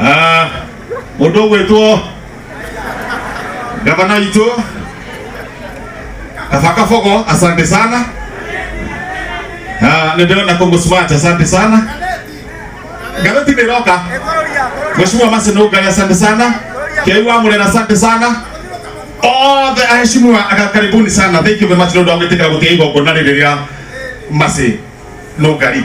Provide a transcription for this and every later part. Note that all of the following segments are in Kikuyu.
Ah, mũndũ ũgwĩtwo gavana witũ Kabakabogo, asante sana. Ah, nĩndĩrona Congo Smart, asante sana. Garoti nĩroka. Mheshimiwa Masi Nũngai, asante sana. Kĩu wa Mũrera, asante sana. All the aheshimiwa, aka- karibuni sana. Thank you very much nĩ ũndũ wa gwĩtĩkĩra gũtiga igongona rĩrĩ rĩa Masi. lũngari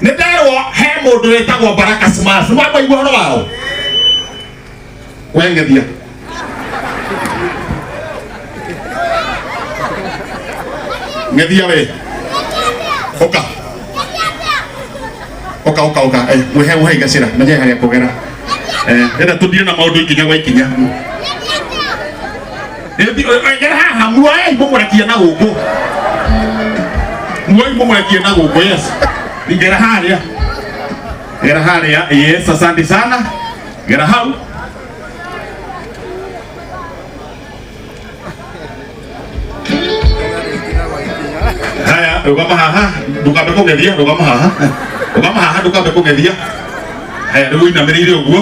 nĩ nderwo he mũndũ wĩtagwo baraka smash nĩ wakwaigua ũhoro wao wengethia ngethia we ũka ũka ũka ũka eh, mwĩhe ũhe igacĩra menye harĩa kũgera eh, ĩna tũthiĩ na maũndũ ikinya gwa ikinya ngera haha muoyai mũmũrekie na gũkũ muoyai mũmũrekie na gũkũ yes ngera harĩa ngera harĩa yes asante sana ngera hau haya rũgama haha ndũkambe kũng'ethia rũgama haha rũgama haha ndũkambe kũng'ethia haya rĩu inamĩrĩire ũguo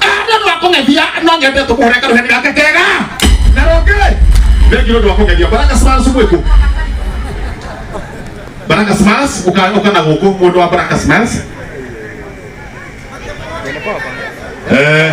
Anda ndo akung'ethia no nyende tũkũhũre karuheni gake kega. Na rũngĩ thengio ndo akung'ethia Baraka Smiles mwĩkũ. Baraka Smiles uka uka na gũkũ mũndũ wa Baraka Smiles. Eh.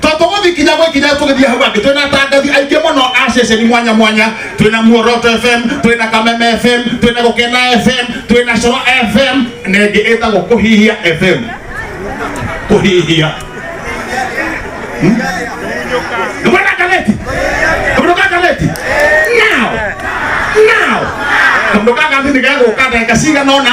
tondu guthikinya gwikinya tugithie hau angi twina tangathi aingi muno a ceceni mwanya mwanya twina muoroto fm twina kameme fm twina gukena fm twina coro fm na ingi itagwo kuhihia fm kuhihia ndumana ngaleti ndumana ngaleti now now ndumana ngaleti nigeguka ndagika cigana ona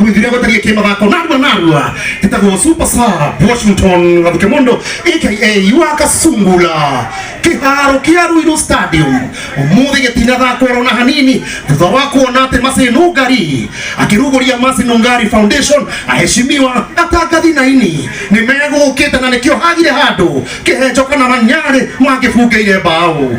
gwithire gũtariĩ kĩmathako narua narua gĩtagwo super sub washington gathuke mũndũ aka wa kasungula kĩharo kĩa ruiru stadium ũmũthĩ gĩtinathakwo rona hanini thutha wa kuona atĩ macino ngari akĩrugũria macino ngari foundation aheshimiwa atangathi naini nĩ megũkĩte na nĩkĩo hagire handũ kĩhenjo kana manyarĩ mangĩbungeire mbaũ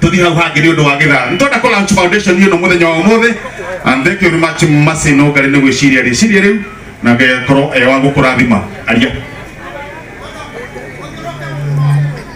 tuthi hau hangi ni undu wa githara ni twenda ku launch foundation hiyo no muthenya wa umuthi and thank you very much masi no ngari ni gwiciria riciria riu na ngekorwo e wa gukurathima aria